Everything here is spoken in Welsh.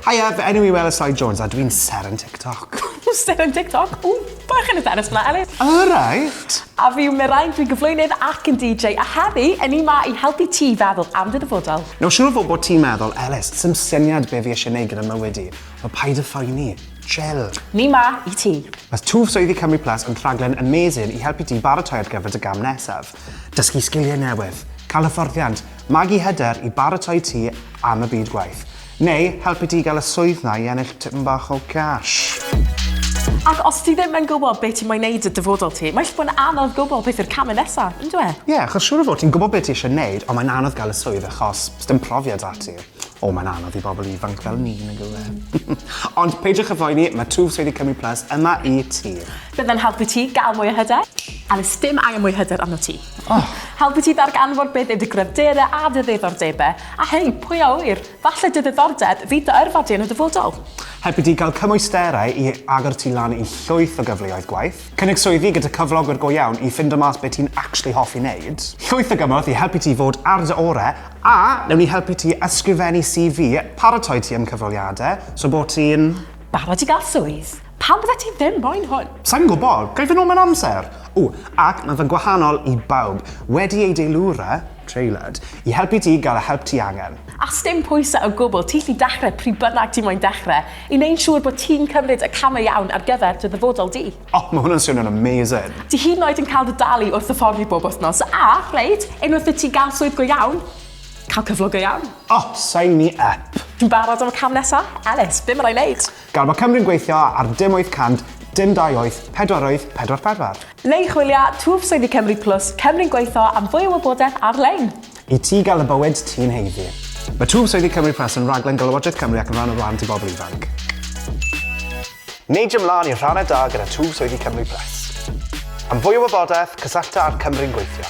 Hiya, fy enw i Wela Soi Jones a dwi'n ser yn TikTok. Ser yn TikTok? Ww, bach yn y tennis fyna, Ellis. Alright. A fi yw Merain, dwi'n gyflwynydd ac yn DJ, a heddi, yn ni ma i helpu ti i feddwl am dy ddyfodol. Nawr, siwr o fod bod ti'n meddwl, Ellis, sy'n syniad be fi eisiau neud gyda mywyd i. Wel, paid y phoeni. Chill. Ni ma i ti. Mae Twf Swyddi Cymru Plus yn rhaglen amazing i helpu ti baratoi ar gyfer dy gam nesaf. Dysgu sgiliau newydd, cael hyfforddiant, magu hyder i baratoi ti am y byd gwaith. Neu helpu ti i gael y swydd 'na i ennill tipyn bach o gash. Ac os ti ddim yn gwybod be ti moyn neud 'da dyfodol ti, mae gallu bod yn anodd gwybod beth yw'r camau nesa, yn dyw e? Ie, achos siŵr o fod ti'n gwybod be ti eisiau neud, ond mae'n anodd gael y swydd achos sdim profiad 'da ti. O, mae'n anodd i bobl ifanc fel ni, nag yw e? Ond peidiwch â phoeni, mae Twf Swyddi Cymru Plus yma i ti. Bydde'n helpu ti gael mwy o hyder. A does dim angen mwy o hyder arnot ti. Oh. Helpu ti ddarganfod beth yw dy gryfderau a dy ddiddordebau, a hei, pwy a ŵyr, falle dy ddiddordeb fydd dy yrfa di yn y dyfodol. Helpu ti gael cymwysterau i agor ti lan i llwyth o gyfleoedd gwaith. Cynnig swyddi gyda cyflogwyr go iawn i ffindo mas be ti'n actually hoffi wneud. Llwyth o gymorth i helpu ti fod ar dy orau, a newn ni helpu ti ysgrifennu CV, paratoi ti am cyfweliadau, so bod ti'n... Barod i gael swydd. Pam byddet ti ddim moyn hwn? Sai'n gwybod, ga i fy nôl mewn amser? O, ac mae fe'n gwahanol i bawb, wedi ei deilwra, tailored, i helpu ti gael y help ti angen. A sdim pwysau o gwbl, ti'n gallu dechrau pryd bynnag ti moyn dechrau, i wneud siŵr bod ti'n cymryd y camau iawn ar gyfer dy ddyfodol di. O, mae hwnna'n swnio'n amazing! Ti hyd yn oed yn cael dy dalu wrth hyfforddi bob wythnos, a, reit, unwaith i ti gael swydd go iawn, cael cyflog go iawn. O, sign me up! Ti'n barod am y cam nesaf? Elis, be mae rai wneud? Gall Mae Cymru'n gweithio ar dim 800, dim 28, pedwar wyth, pedwar pedwar. Le i chwilio, Twf Swyddi Cymru Plus, Cymru'n gweithio am fwy o wybodaeth ar-lein. I ti gael y bywyd ti'n haeddu. Mae Twf Swyddi Cymru Plus yn rhaglen gan Lywodraeth Cymru ac yn rhan o Wlân Tŷ Bobl Ifanc. Neidio mlaen i'r rhannau da gyda Twf Swyddi Cymru Plus. Am fwy o wybodaeth, cysyllta â'r Cymru'n gweithio.